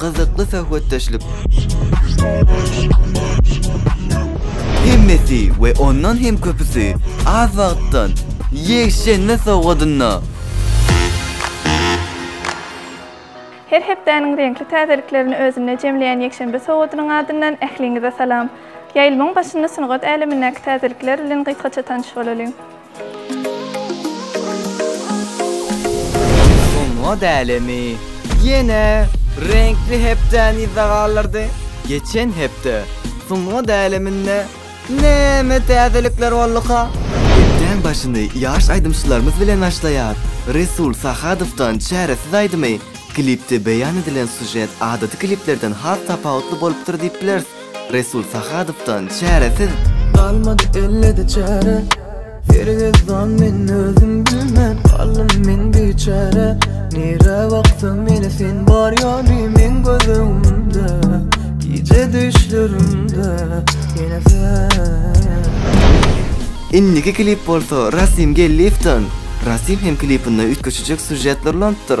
Gyzykly söhbetdeşlik. Hemmesi we ondan hem köpüsi az wagtdan ýekşenbe sowgadynda. Her hepdäniň reňkli täzeliklerini özünde jemleýän ýekşenbe sowgadynyň adyndan ähliňize salam. Ýaýlymyň başynda sungat älemindäki täzelikler bilen gysgaça tanyş bolalyň. Şoňa dälemi, ýene reňkli hepdäni yzda galdyrdy. Geçen hepde sungat äleminde näme täzelikler bolduka? Hepdäň başyny ýaş aýdymçylarymyz bilen başlaýar. Resul Sahadowdan Çäresiz aýdymy. Klipde beýan edilen sýužet adaty kliplerden has tapawutly bolupdyr diýip bileris. Resul Sahadowdan çäresiz. Galmady ellede çäre Hergezdan men özüm bilmän Galdym men biçäre Nirä baksam ýene sen bar ýaly Meň göz öňümde Gije düşlerimde Ýene sen Indiki klip bolsa Rasim Gelliýewden. Rasim hem klipinde üýtgeşijek sýužetler ulanypdyr.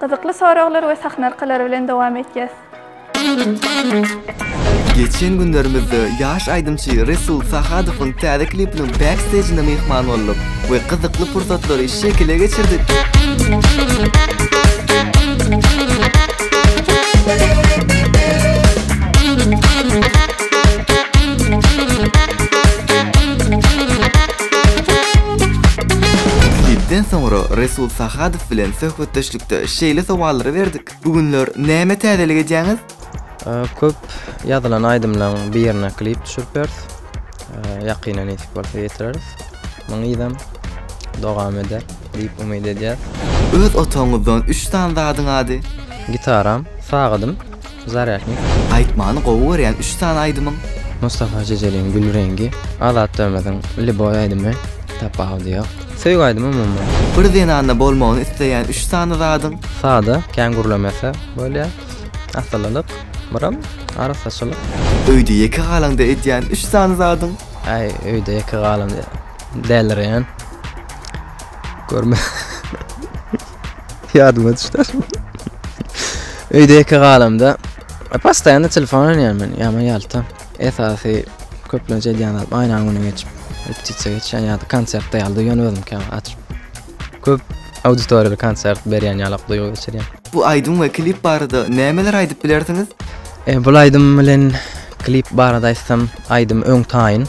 Gyzykly soraglar we sahna arkalary bilen dowam etýäs. Geçen günlerimizde ýaş aýdymçy Resul Sahadowyň täze klipiniň backstejine myhman bolduk we gyzykly pursatlary şekile geçirdik. Dipden soňra Resul Sahadow bilen söhbetdeşlikde şeýle sowallary berdik, Bu günler näme täzelik edýäňiz? Köp ýazylan aýdymlaryň birine klip düşürip ýörüs. Ýakynda nesip bolsa ýetireris. Muňyzam dowam eder diýip umyt edýäs. Öz otagyňyzdan üç sany zadyň ady? Gitaram, sagadym. Zarýaşnik. Aýtmany gowy görýän üç sany aýdymyň? Mustafa Jejeliň Gül reňgi. Azat Dömeziň Liboý aýdymy. Tapawudy ýok. Söýgi aýdymy umuman. Bir zenanda bolmagyny isleýän üç sany zadyň? Sada, kän gürlemese bolýar. Asylylyk, myram, arassaçylyk. Öýde ýeke galaňda edýän üç sany zadyň? Aý, öýde ýeke galamda dälirýän. Görme. Ýadyma düşdi. Öýde ýeke galamda postaýany telefon oýnaýan men, ýaman ýalta. Esasy köplenç edýän zat aýnaň öňüne geçip, repetisiýa geçýän ýa-da konsertde ýaly duýýan özüm käwagt açyp. Köp auditoriýaly konsert berýän ýaly duýgy geçirýän. Bu aýdym we klip barada nämeler aýdyp bilersiňiz? E, bul aýdym bilen klip barada aýtsam, aýdym öň taýyn.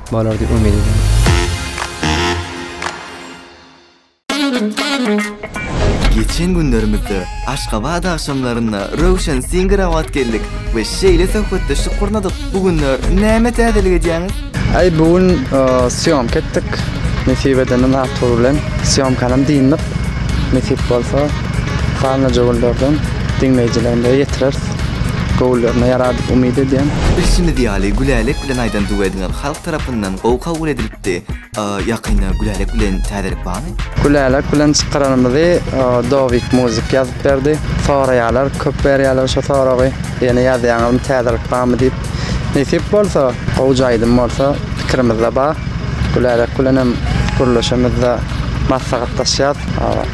bolar diýip umyt edýärin. Geçen günlerimizde Aşgabat agşamlarynda Röwşen Singer Awad geldik we şeýle söhbetdeşlik gurnadyk. Bu günler näme täzelik edýäňiz? Aý bu gün sýomka etdik. Nesip edenden Artur bilen sýomkanam dyndyk. Nesip bolsa, galnaja günlerden diňleýjilerimize ýetireris. göwünlerine ýarar diýip umyt edýän. Bilşimiz ýaly Gülälek bilen Aýdan duwediňiz halk tarapyndan gowy kabul edilipdi. Ýakynda Gülälek bilen täzelik barmy? Gülälek bilen çykaranymyzy Dowik Muzik ýazyp berdi. Soraýarlar, köp berýärler şu soragy. Ýene ýazýaňyzmy täzelik barmy diýip. Nesip bolsa, gowja aýdym bolsa pikirimizde bar. Gülälek bilenem gürleşemizde maslahatlaşýas.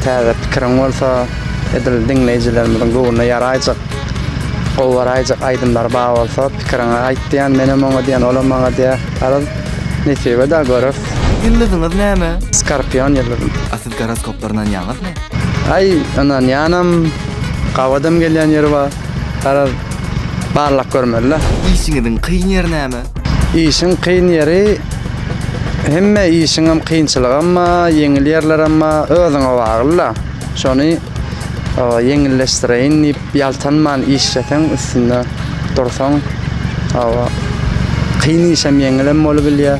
Täze pikiriň bolsa. Edil diňleýjilerimiziň göwnüne ýaraýjak, gowy baraýjak aýdymlary bar bolsa, pikiriňi aýt diýýän. Menem oňa diýýän, olam maňa diýýär. Garaz, nesibä dagy göreris. Ýyldyzyňyz näme? Skorpion ýyldyzym. A siz goroskoplara ynanýaňyzmy? Aý, ynanýanam, gawadam gelýän ýeri bar. Garaz, barlap görmeli-dä. Işiňiziň kyn ýeri näme? Işiň kyn ýeri, hemme işiňem kynçylygam bar, ýeňil ýerlerem bar, özüňe bagly-da. Şony ýeňilleşdireýin diýip ýaltanman işleseň üstünde dursaň kyn işem ýeňilem bolubilýär.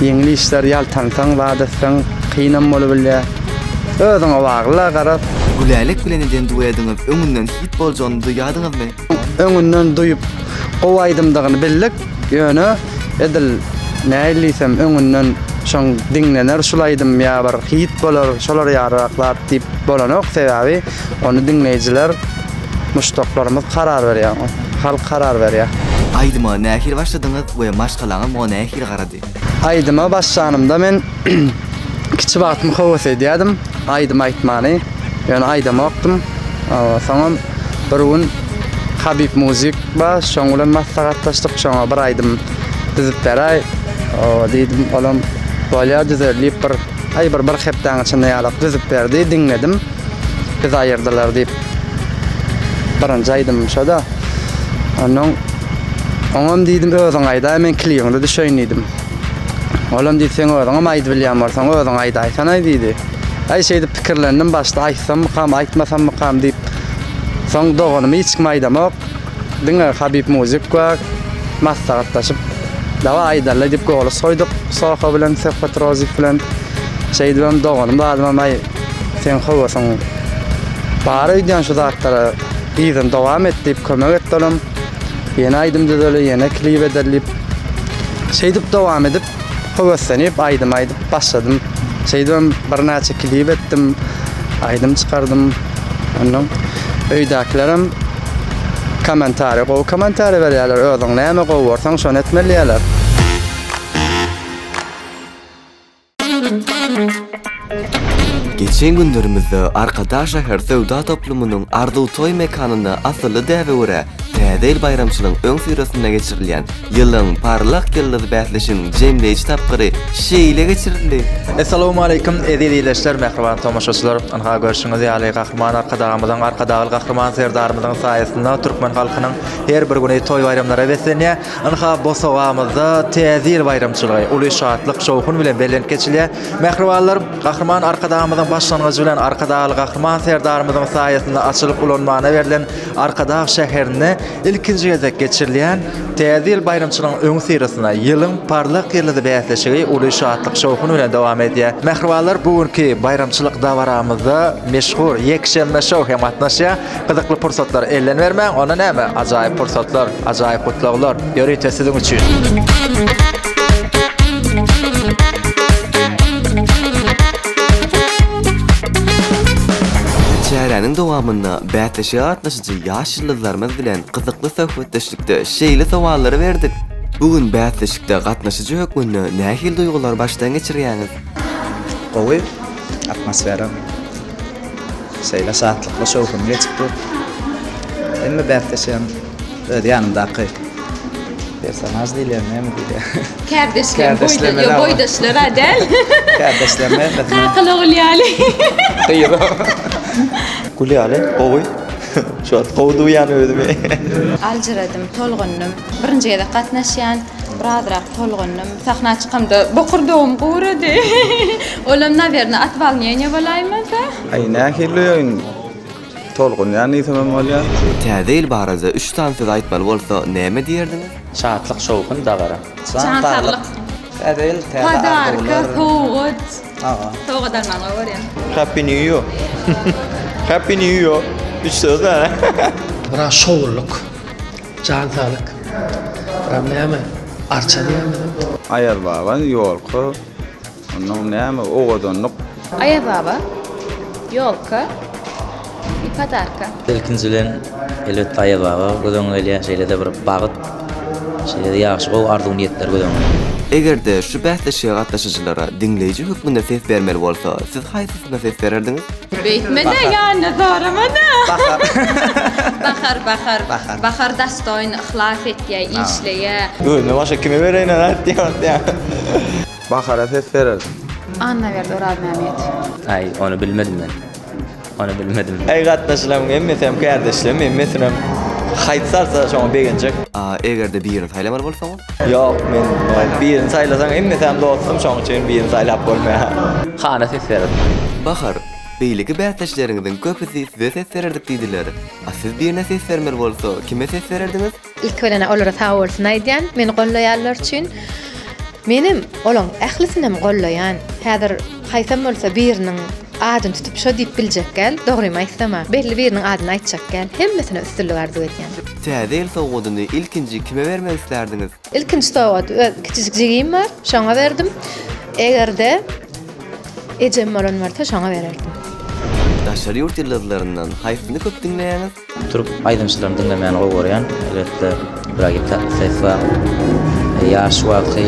Ýeňil işler ýaltansaň zat etseň kynam bolubilýär. Özüňe bagly garap. Gülälek bilen eden duediňiz öňünden hit boljagyny duýýadyňyzmy? Öňünden duýup gowy aýdymdygyny bildik. Ýöne edil nähili diýsem öňünden şoň diňlener şul aýdym ýa bir hit bolar şolar ýalyraklar diýip bolanok sebäbi ony diňleýjiler muşdaklarymyz karar berýär halk karar berýär. Aýdyma nähili başladyňyz we maşgalaňyz muňa nähili garady? Aýdyma başlanymda men kiçi wagtym höwes edýärdim aýdym aýtmany. Ýöne aýdamokdym. Soňam bir gün Habib Muzik bar, şoň bilen maslahatlaşdyk, şoňa bir aýdym düzüp beräý. Diýdim, olam bolýar düzer diýip bir aý bir bir hepdäň içinde ýalak düzüp berdi, diňledim. Biz aýyrdylar diýip birinji aýdymym şo-da. Ondan oňam diýdim özüň aýdaý men klibiňde düşeýin diýdim. Olam diýdi sen özüňem aýdyp bilýän bolsaň özüň aýdaýsanaý diýdi. Aý şeýdip pikirlendim başda aýtsammykam aýtmasammykam diýip. Soň doganymy hiç kime aýdamok. Diňe Habib Muzik we maslahatlaşyp, Dawa aýdaly diýip goly soýduk Soho bilen, Söhbet Rozik bilen. Şeýdibem doganym zadymam aý seň höwesiň bar öýdýän şu zatlara yzyny dowam et diýip kömek etdi olam. Ýene aýdym düzeli, ýene klip edeli diýip. Şeýdip dowam edip höweslenip aýdym aýdyp başladym. Şeýdibem birnäçe klip etdim, aýdym çykardym. Ondan öýdäkilerem kommentariýa, gowy kommentariýa berýärler. Özüň näme gowy görseň, şony etmeli diýýärler. Geçen günlerimizde Arkadag şäher söwda toplumynyň Arzuw toý mekanynda asylly däbe görä, Täze ýyl baýramçylygyň öňüsyrasynda geçirilýän Ýylyň parlak ýyldyzy bäsleşiginiň jemleýji tapgyry şeýle geçirildi. Essalawmaleýkum, eziz ildeşler, mähriban tomaşaçylar! Ynha, görşüňiz ýaly, Gahryman Arkadagymyzyň, Arkadagly Gahryman Serdarymyzyň saýasynda türkmen halkynyň her bir güni toý-baýramlara beslenýär. Ynha, bosagamyzda Täze ýyl baýramçylygy uly şatlyk-şowhun bilen belent geçilýär. Mähribanlar, Gahryman Arkadagymyzyň başlangyjy bilen Arkadagly Gahryman Serdarymyzyň saýasynda açylyp ulanmana berlen Arkadag şäherinde ilkinji gezek geçirilýän Täze ýyl baýramçylygynyň öňüsyrasynda Ýylyň parlak ýyldyzy bäsleşigi uly şatlyk-şowhun bilen dowam edýär. Mähribanlar, bu günki baýramçylyk dabaramyzda meşhur Ýekşenbe-şou hem gatnaşýar. Gyzykly pursatlary elden bermäň, onda näme, ajaýyp pursatlar, ajaýyp gutlaglar, ýörite siziň üçin! Çäräniň dowamynda bäsleşige gatnaşyjy ýaş ýyldyzlarymyz bilen gyzykly söhbetdeşlikde şeýle sowallary berdik, Bu gün bäsleşikde gatnaşyjy hökmünde nähili duýgulary başdan geçirýäňiz? Gowy, atmosfera. Şeýle şatlykly, şowhunly geçipdi. Hemme bäsdeşem öz ýanymdaky personaž diýilýär, näme diýilýär? Kärdeşler, boýdaşlar, boýdaşlar-a däl. Kärdeşler näme? Kakaly ogul ýaly. Gül ýaly gowy. Şu wagt gowy duýýan özümi. Aljyradym, tolgundym. Birinji gezek gatnaşýan. Birazrak tolgundym. Sahna çykamda bokurdagym gurady. Olam nawerne at walniýeniýa bolaýmasa. Aý nähili öýün tolgunýan diýsemem bolýar. Täze ýyl barada üç sany söz aýtmaly bolsa näme diýerdiňiz? Şatlyk şowhun dabara. Jan saglyk. Täze ýyl täze arzuwlar. Podarka sowgat. Aga. Sowgat almaň gowy görýän. Happy new yo. Happy new yo. Üç söz däl. Biraz şowlyk. Jan saglyk. Buram näme? Arça diýýärmiň? Aýaz baba ýolka onuň näme owadanlyk. Aýaz baba ýolka i podarka. Ilkinji bilen elbetde Aýaz baba göz öňüňe gelýär şeýlede bir bagyt şeýlede ýagşy gowy arzuw niýetler göz öňüňe. Eger-de şu bäsleşige gatnaşyjylara diňleýji hökmünde ses bermeli bolsa siz haýsy Kime ses bererdiňiz? Beýtme-de, ýanyna zorama-da. Bahar. Bahar, Bahar. Bahar. Bahar dastoýn, yhlas etýär, işleýär. Özünden başga kime bereýin ony aýt diýen wagt ýa. Bahara ses bererdim. Annaberdi Orazmämmedow. Aý, ony bilmedim men. Ony bilmedim. Aý, gatnaşylaryň hemmesi hem kärdeşlermi, hemmesinem haýsy salsa şoňa begenjek. Eger-de birini saýlamar bolsaň? Ýok, men birini saýlasaň, hemmesem dostum, şoň üçin birini saýlap bolmaýar. Hana ses berin. Bahar, beýleki bäsdeşleriňiziň köpüsi size ses bererdik diýdiler. A siz birine ses bermeli bolsa, kime ses bererdiňiz? Ilki bilen olara sag bolsun aýdýan, meni gollaýanlar üçin. Menem olaň ählisinem gollaýan. Häzir haýsam bolsa biriniň adyny tutup şo diýip biljek gäl, dogrymy aýtsam-a, belli biriniň adyny aýtjak gäl. Hemmesine üstünlik arzuw edýän. Täze ýyl sowgadyny ilkinji kime bermek islärdiňiz? Ilkinji sowgat öz kiçijik jigim bar, şoňa berdim. Eger-de ejem bolan bolsa, şoňa bererdim. Daşary ýurt ýyldyzlaryndan haýsyny köp diňleýäňiz? Türk aýdymçylaryny diňlemäni gowy görýän. Elbetde, Bragi Tatlisewa, ýaş wagty.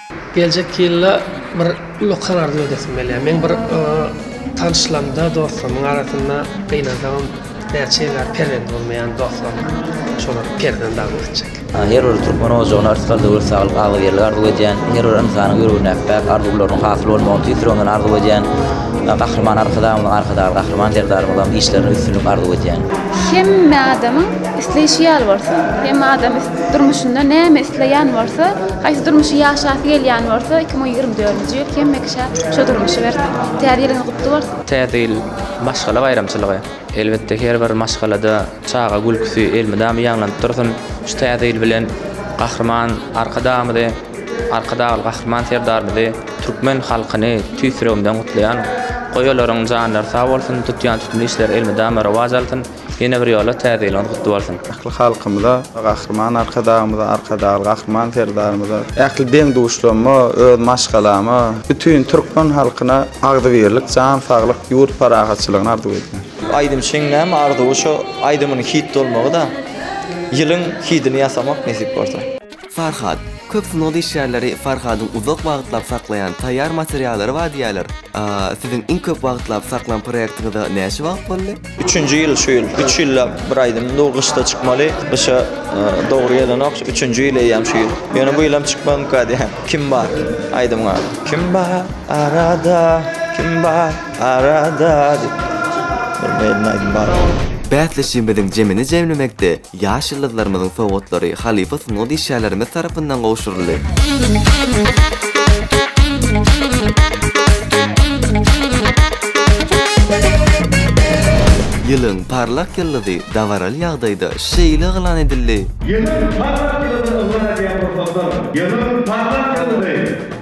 Geljek ýylda bir uly karar döredesim gelýär. Meň bir tanyşlarymda, dostlarymyň arasynda gynansagam näçe ýyl bäri perzent bolmaýan dostlarym bar. Şolar perzent arzuw etjek. Her bir türkmen ojagyna ysgal döwlet saglyk, agzybirlik arzuw edýän. Her bir ynsanyň ýüreginde bäh arzuwlarynyň hasyl bolmagyny tüýs ýüregimden arzuw edýän. Gahryman Arkadagymyzyň Arkadagly Gahryman Serdarymyzyň işlerine üstünlik arzuw edýän. Hemme adamyň isleýşi ýaly bolsun. Hemme adam Durmuşynda näme isleýän bolsa, haýsy durmuşy ýaşasy gelýän bolsa, iki müň ýigrimi dördünji ýyl hemişe şo durmuşy bersin. Täze ýylyňyz gutly bolsun! Täze ýyl maşgala baýramçylygy. Elbetde her bir maşgalada çaga gülküsi elmydama ýaňlanyp dursun. Şu täze ýyl bilen Gahryman Arkadagymyzy, Arkadagly Gahryman Serdarymyzy, türkmen halkyny tüýs ýüregimden gutlaýan. Goý olaryň janlary sag bolsun, tutýan tütün işleri elmydama rowaç alsyn. Ýene bir ýola Täze ýylyňyz gutly bolsun! Ähli halkymyza, Gahryman Arkadagymyza, Arkadagly Gahryman Serdarymyza, ähli deň-duşlarma, öz maşgalama, bütin türkmen halkyna agzybirlik, jan saglyk, ýurt parahatçylygyny arzuw edýän. Aýdymçyň näme arzuwy şo aýdymynyň hit bolmagy da ýylyň hidini ýasamak nesip bolsa. Farhad, köp sungat işgärleri Farhadyň uzak wagtlap saklaýan taýýar materiallary bar diýýärler. A, siziň iň köp wagtlap saklan proýektiňize näçe wagt boldy? Üçünji ýyl şu ýyl. Üç ýyllap bir aýdymym dur, gyşda çykmaly. Gyşa dogry gelenok. Üçünji ýyl eýýäm şu ýyl. Ýöne bu ýylam çykmazmyka diýýän. Kim bar? Aýdymyň ady. Kim bar arada, kim bar arada diýip. Bilmeýän aýdym bar. Bäsleşigimiziň jemini jemlemekde Ýaş ýyldyzlarymyzyň sowgatlary halypa sungat işgärlerimiz tarapyndan gowşuryldy. Ýylyň parlak ýyldyzy dabaraly ýagdaýda şeýle yglan edildi. Ýylyň parlak ýyldyzy yglan edýän pursatlar Ýylyň parlak ýyldyzy!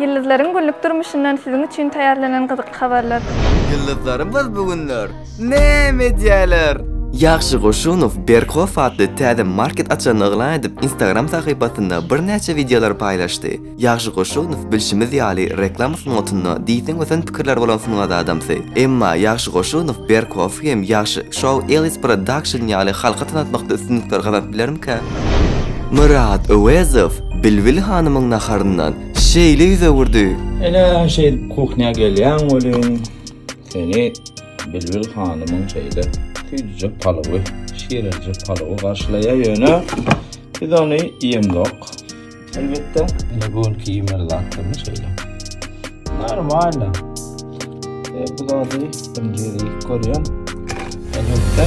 Ýyldyzlaryň günlük durmuşyndan siziň üçin taýýarlanan gyzykly habarlar. Ýyldyzlarymyz bu günler näme edýärler? Ýagşy Goşunow Berkow atly täze market açanyny yglan edip, Instagram sahypasynda birnäçe wideolar paýlaşdy. Ýagşy Goşunow, bilşimiz ýaly, reklama sungatynda diýseň ösen pikirleri bolan sungat adamsy. Emma Ýagşy Goşunow Berkow hem Ýagşy Show Ellis Production ýaly halka tanatmakda üstünlikler gazanyp bilermikä? Myrat Öwezow Bilbil hanymyň naharyndan şeýle ýüz öwürdi. Ene şeýdip kuhnýa gelýäň welin, seni Bilbil hanymyň şeýle süýjüjek palawy, şirelijek palawy garşylaýar, ýöne biz ony iýemzok, elbetde. Ene bu günki iýmeli zatlarymy şeýle. Normalno. E, bu zady birinji gezek iýip görýän, elbetde.